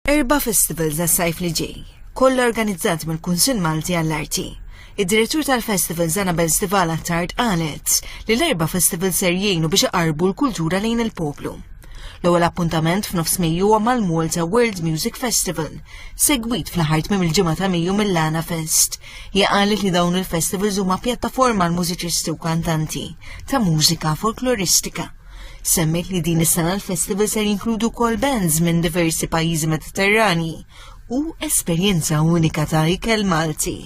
Erba' festivals għas-sajf li ġej, kollha organizzati mill-Kunsill Malti għall-Arti. Id-direttur tal-festival Zanabel Stivala Tard qalet li l-erba' festival ser jgħinu biex iqarbu l-kultura lejn il-poplu. L-ewwel appuntament f'nofs Mejju huwa mal-Malta World Music Festival, segwit fl-aħħar tmiem il-ġimgħa ta' Mejju mill-Lana Fest. Hija qalet li dawn il-festivals huma pjattaforma għal mużiċisti u kantanti ta' mużika folkloristika. Semmejt li din is-sena l-festival ser jinkludu kol bands minn diversi pajjiżi Mediterrani u esperjenza unika ta' ikel Malti.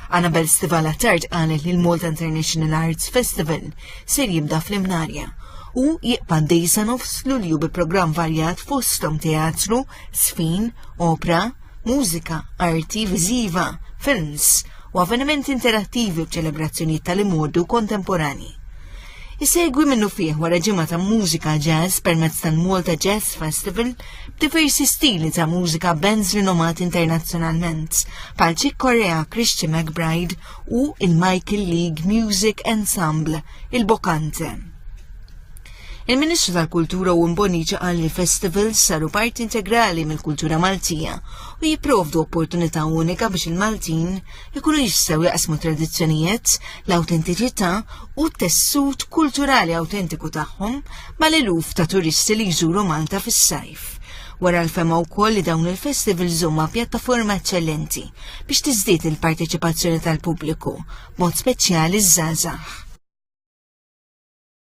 Annabel Stivala Tard qalet li l-Malta International Arts Festival ser jibda fl-Imnarja u jiqbad dejsa nofs lulju bi programm varjat fostom teatru, sfin, opra, mużika, arti viżiva, films u avvenimenti interattivi b'ċelebrazzjonijiet tal-imodu kontemporani. Isegwi minnufih wara ġimgħa ta' mużika jazz permezz tal-Malta Jazz Festival b'diversi stili ta' mużika bands rinomati internazzjonalment bħal Chick Corea, Christian McBride u il-Michael League Music Ensemble, il-Bocante. Il-Ministru tal-Kultura u Mboniċa qal li festivals saru parti integrali mill-kultura Maltija u jipprovdu opportunità unika biex il-Maltin ikunu jistgħu jaqsmu tradizzjonijiet, l-awtentiċità u t-tessut kulturali awtentiku tagħhom mal-eluf ta' turisti li jżuru Malta fis-sajf. Wara l-fema wkoll li dawn il-festivals huma pjattaforma eċċellenti biex tiżdied il-parteċipazzjoni tal-pubbliku, mod speċjali ż-żgħażagħ.